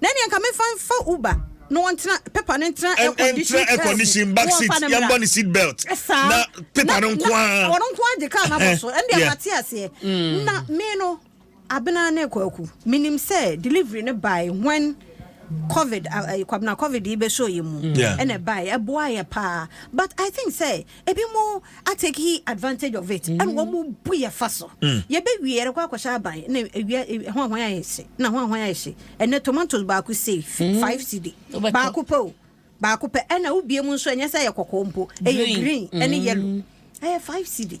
Na ɛneɛ nka memfa mfa Uber na wɔntena paper no ntena air condition car mu. Ɛntra air condition back seat yɛmbɔ ne seat belt. Ɛsaa. Na paper no nko ara. Wɔn nko ara de car no abɔ so. Ɛndeɛ yeah. mate aseɛ. Mm. Na me no abena ne kwaku menim sɛ delivery no by when covid uh, uh, kwabena covid yi bɛsɔ yɛ mu ɛna ɛbae ɛboa yɛ paa but i think sɛ ebi mo atake he advantage of it ɛna wɔn mo bu yɛ fa so yɛ bɛ wie yɛrɛ kɔ akɔhyɛ aban na ewia ɛho ahoan ayɛ hye na ho ahoan ayɛ hye ɛnɛ tomatoes baako sei five cd baako pɛ o baako pɛ ɛna wobie mu nso ɛnyɛ sɛ ɛyɛ kɔkɔɔ mpo ɛyɛ green ɛne yellow ɛyɛ five cd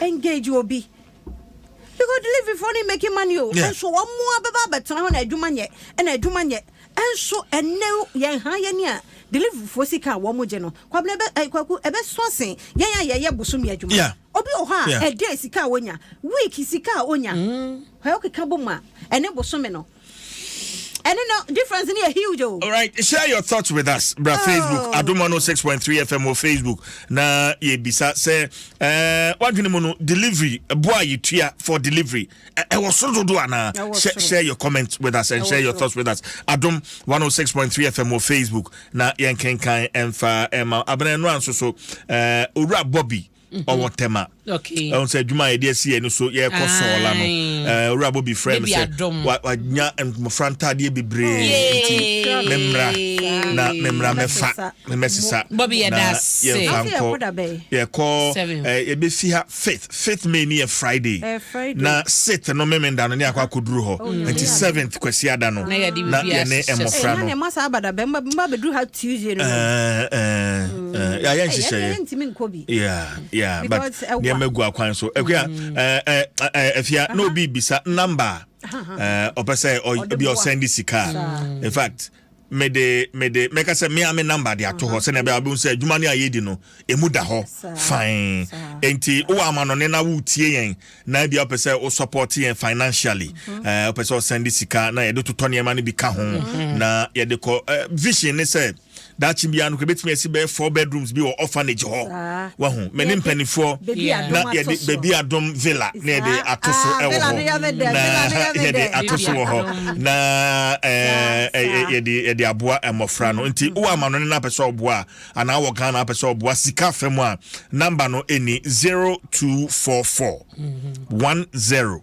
Engage obi because delivery for no making money o yeah. nso wɔn mu abɛba abɛtena hɔ na adwuma nyɛ ɛna adwuma nyɛ nso ɛnɛ yɛn ha yɛn ni a delivery for sika a wɔn gye no kwabena ɛbɛ eh, kwaku ɛbɛ so asen yɛn a yɛyɛ bosomi adwuma yeah. obi wɔ hɔ a ɛdɛ sika a wonya week sika a wonya mm. hwɛ ɔkeka bɔ mu a ɛne bosomi no ɛno no difference no yɛ huge o. alright share your thoughts with us bra oh. facebook adom 106.3 fm wɔ facebook na yɛbisa sɛ eh, wadwene mu no delivery boa yɛtua for delivery ɛwɔ so dodo anaa share your comments with us and share your thoughts with us adom 106.3 fm wɔ facebook na yɛnkenkan ɛmfa ɛma abenɛ no anso so eh, owura bobby mhm. ɔwɔ tɛma ɛhu sɛ adwuma a yɛde asi yɛ no so yɛrekɔ sɔɔla no owura bobi frɛ me sɛ wanya mmɔfra ntadeɛ bebree nti memmra na memmra mɛfa ne mɛsesa na yɛmfa nkɔ yɛkɔ yɛbɛfi ha fifth fifth may ne yɛ friday na sixth no memenda no ne akɔ akɔduru hɔ oh, nti seventh kwasi ada no na yɛne mmɔfra no Eh, ya yɛ nhyehyɛeɛ yɛntumi nkɔ bi yeah yeah but nneɛma gu akwan so ɛkua mm. eh, eh, afia na obi bisa namba ɔpɛ sɛ ɔbi ɔsɛn de sika in fact mede mede mɛka sɛ mea me namba de ato hɔ sɛnea ɛbɛyɛ wobɛhu sɛ adwuma no a yɛdi no ɛmu da hɔ fine enti wowɔ amanɔne na woretie yɛn na ebia wopɛ sɛ wo support yɛn financially mhm. eh, wopɛ sɛ ɔsɛn de sika na yɛde totɔ nneɛma no bi ka ho mhm. na yɛde kɔ eh, vision ne sɛ Daakye biara no, yɛbɛtumi asi bɛyɛ four bedrooms bi wɔ orphanage hɔ. Wahu, me ne mpanimfoɔ na yɛde baabi adom villa na yɛde ato so ah, wɔ hɔ. Na yɛde ato so wɔ hɔ. Na eh, eh, eh, yɛde aboa mmɔfra no. Nti wowɔ amanɔne no apɛ sɛ ɔboa a, anaa wɔ Ghana apɛ sɛ ɔboa sika fa mu a, namba no ɛni 0244 10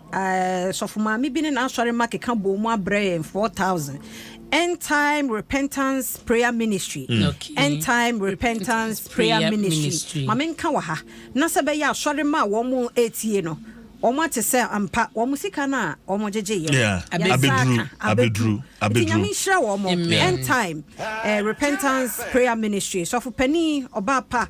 Sɔfo maame bi ne n'asɔre mma keka bɔɔ mu abrɛ yɛn 4000 End Time Repentance Prayer Ministry. Mm. Okay. End Time Repentance Prayer, Prayer Ministry. Ministry. Maame nka wɔ ha na sɛ bɛyɛ asɔre mma a wɔn etie no wɔn ate sɛ ampa wɔn sika no a wɔn gyegye yɛ yeah. abeduru abeduru abeduru nyame nhyira wɔn end time uh, repentance prayer ministry sɔfo panin ɔbaa pa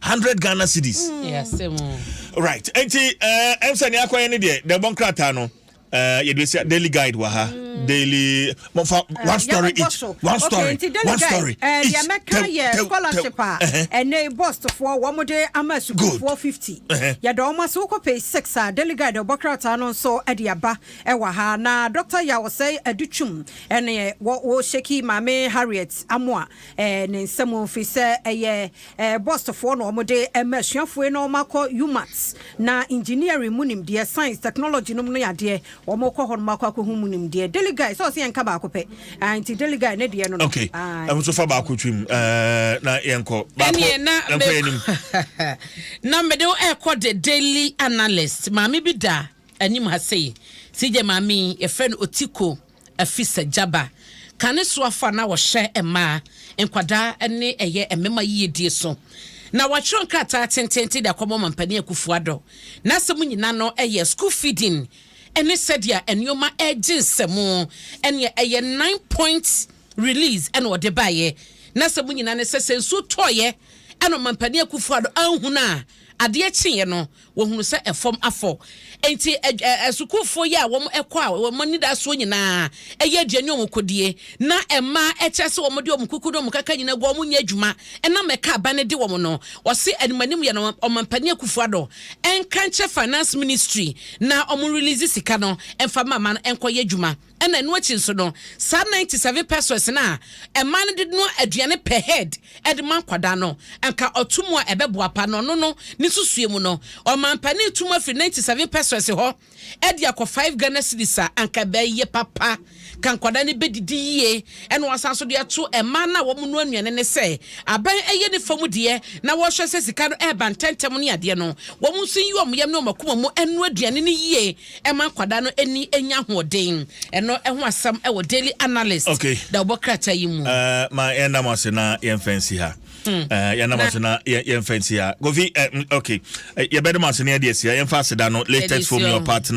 hundred ghana cedis. Mm. right nti ɛɛ eh, ɛnfɛ ni akɔyɛ ni deɛ dɛbɔ nkrataa no ɛɛ eh, yɛde esi daily guide wɔ ha mm. daily mo fa eh, one story each one story one story each tɛw tɛw tɛw scholarship a ɛnɛ bɔsfoɔ wɔn de ama sukuufoɔ fifty yɛde wɔn ase wokɔ page six a daily guide ɛbɔ krataa no nso ɛde aba ɛwɔ ha na doctor yawosɛ ɛde twum ɛne wɔ wɔ sheki maame harriet amoa. ne nsa mu ɛfiri sɛ ɛyɛ bɔsfoɔ na wɔde ma asuafoɔ na wɔakɔ UMAT na engineering mu nimdeɛ science technology nom no yɛ adeɛ wɔkɔ hɔ nom akɔ akɔhu mu nimdeɛ daily guy sɛ ɔsɛ yɛnka baako pɛ nti daily guy ne deɛ no no okay ɛho so fa baako twim na yɛnkɔ baako yɛnkɔ yɛnim na mede ɛkɔ the daily analyst maame bi da anim ha sei sɛ gye maame yɛfrɛ no otiko Afi sɛ Jabba ka ne soafo a na wɔhwɛ mmaa, nkwadaa ne ɛyɛ mmema yiyedie so na watwerɛ nkrataa tenteenten de akɔma Ɔmampanin Akufo Addo. N'asɛm nyina no yɛ school feeding ne sɛdeɛ nnoɔma regye nsɛmu ɛneɛ ɛyɛ nine point release ɛna ɔde baeɛ. N'asɛm nyina ne sɛ sɛ nsuo tɔeɛ ɛna Ɔmampanin Akufo Addo anhunu a adeɛ kyeeɛ no wɔhunu sɛ ɛfam afɔ. Enti asukuufoɔ yi a wɔkɔ a wɔn anidasoɔ nyinaa ɛyɛ aduane a wɔkɔdie na mmaa ɛkyerɛ sɛ wɔde wɔn kuku ne wɔn kaka nyinaa gu a wɔnyɛ adwuma ɛnam ɛka aban no de wɔn no. Wɔse animanim yɛ no Ɔmampanin Akufo Addo ɛnka nkyerɛ Finance Ministry na wɔn release sika no ɛmfa ma ma no ɛnkɔyɛ adwuma. Ɛna ɛno akyi nso no, saa ninety seven pesos no a mmaa no de noa aduane per head de ma nkwadaa no, anka ɔto mu a ɛbɛboa pa, na ɔno no ne nsusuiɛ mu no, ɔmanpanin to mu afiri ninety seven pesos hɔ de akɔ five Ghana cedis a, anka ɛbɛye papa, ka nkwadaa no bɛdidi yie. Ɛna wasan nso de ato mmaa no a wɔn noa nnuane no sɛ, aban yɛ ne fa mu deɛ na wɔhwɛ sɛ sika no reba ntɛntɛm ne adeɛ no, wɔn nso nyi wɔn yam ne wɔn akoma mu nnoa aduane no yie, Ɛma akwadaa no ani nya ahoɔden. Ɛno ho asɛm wɔ Daily Analyst okay. da wɔbɔ krataa yi mu. Uh, ma yɛnda mo ase na yɛmfa nsi ha hmm. uh, yɛnda mo ase na yɛmfa nsi ha kofi uh, okay. uh, yɛbɛde mo ase na yɛde asia yɛmfa aseda no latest from your partner